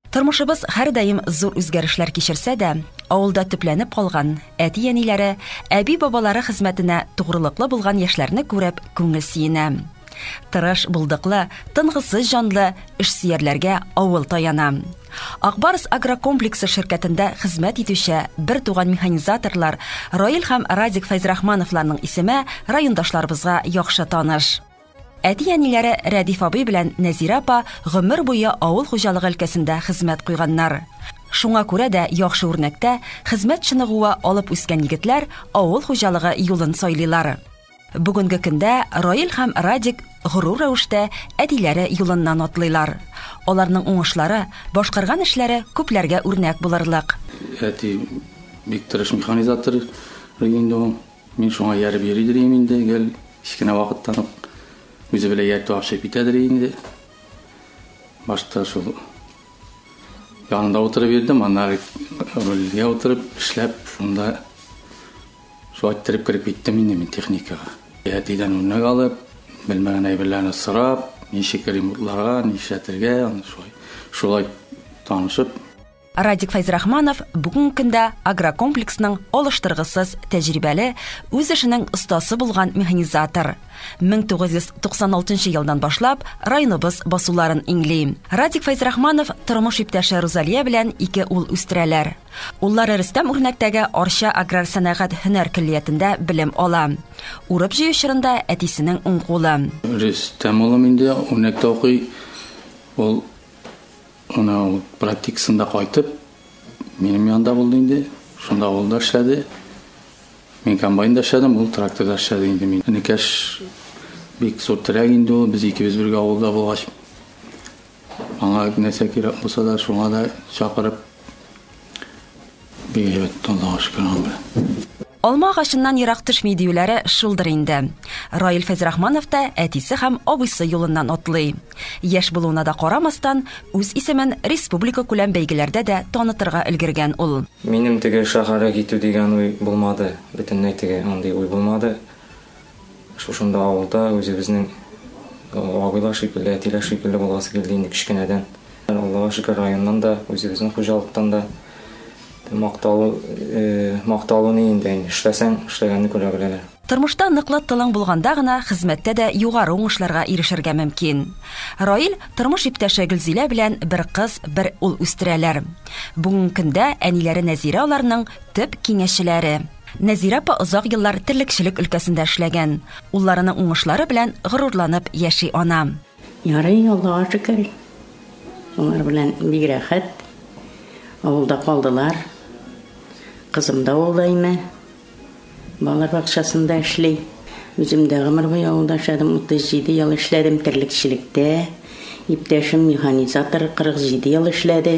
Тормышыбыз һәрдаим зур үзгәрешләр кичерсә дә, авылда төпләнеп калган әти-әниләре, әби-бабалары хезмәтенә тугрылыклы булган яшьләрне күреп, күңел сөенә. Тырыш, булдыклы, тынгысыз җанлы эшсөярләргә авыл таяна. Акбарс агрокомплексы ширкәтендә хезмәт итүче бер туган механизаторлар Раил һәм Радик Фәйзрахмановларның исеме райондашларыбызга яхшы таныш. Әти-әниләре Рәдиф абый белән Нәзирә апа гомер буе авыл хуҗалыгы өлкәсендә хезмәт куйганнар. Шуңа күрә дә яхшы үрнәктә, хезмәт чыныгуы алып үскән егетләр авыл хуҗалыгы юлын сайлыйлар. Бүгенге көндә Раил һәм Радик горур рәвештә әтиләре юлыннан атлыйлар. Аларның уңышлары, башкарган эшләре күпләргә үрнәк булырлык. Әти бик тырыш механизатор иде инде ул. Мин шуңа ияреп йөри дирим инде, гел кечкенә вакыттан ук үзе белән ияртү гашыйп итә дери инде. Башта шул янында утырып йөрдем, аннары рульгә утырып эшләп, шунда шулай иттереп кереп киттем инде мин техникага. Әтидән үрнәк алып, белмәгән әйберләрне сорап, ничек ремонтларга, нишләтергә, аны шулай шулай танышып, Радик Фәйзрахманов бүгенге көндә агрокомплексның алыштыргысыз тәҗрибәле, үз эшенең остасы булган механизатор. 1996 елдан башлап районыбыз басуларын иңли. Радик Фәйзрахманов тормыш иптәше Рузалия белән ике ул үстерәләр. Уллары Рөстәм Үрнәктәге Арча аграр сәнәгать һөнәр көллиятендә белем ала. Урып җыю чорында әтисенең уң кулы. Рөстәм улым инде Үрнәктә укый. Ул Менә ул практикасында кайтып, минем янда булды инде. Шунда ул да эшләде. Мин комбайнда эшләдем, ул тракторда эшләде инде. Мин энекәш бик зур терәк инде ул. Без икебез бергә авылда булгач, аңа нәрсә кирәк булса да, шуңа да чакырып Бигрәк тә озак эшкәргән бу. Алма агачыннан ерак төшми диюләре шулдыр инде. Раил Фәзрахманов та әтисе һәм абыйсы юлыннан атлый. Яшь булуына да карамастан, үз исемен республикакүләм бәйгеләрдә дә танытырга өлгергән ул. Минем теге шәһәргә китү дигән уй булмады, бөтенләй теге андый уй булмады. Шушында авылда үзебезнең абыйлар шикелле, әтиләр шикелле буласы килде инде кечкенәдән. Аллага шөкер, районнан да, үзебезнең хуҗалыктан да макталу, макталу ни инде, эшләсәң, эшләгәнне күрә беләләр. Тормышта ныклы тылың булганда гына хезмәттә дә югары уңышларга ирешергә мөмкин. Раил тормыш иптәше Гөлзилә белән бер кыз, бер ул үстерәләр. Бүгенге көндә әниләре Нәзирә аларның төп киңәшчеләре. Нәзирә апа озак еллар терлекчелек өлкәсендә эшләгән. Улларының уңышлары белән горурланып яши ана. Ярый, Аллага шөкер. Алар белән бик рәхәт. Авылда калдылар. Кызым да ул даими балалар бакчасында эшли. Үзем дә гомер буе авылда эшләдем, 37 ел эшләдем терлекчелектә. Иптәшем механизатор 47 ел эшләде.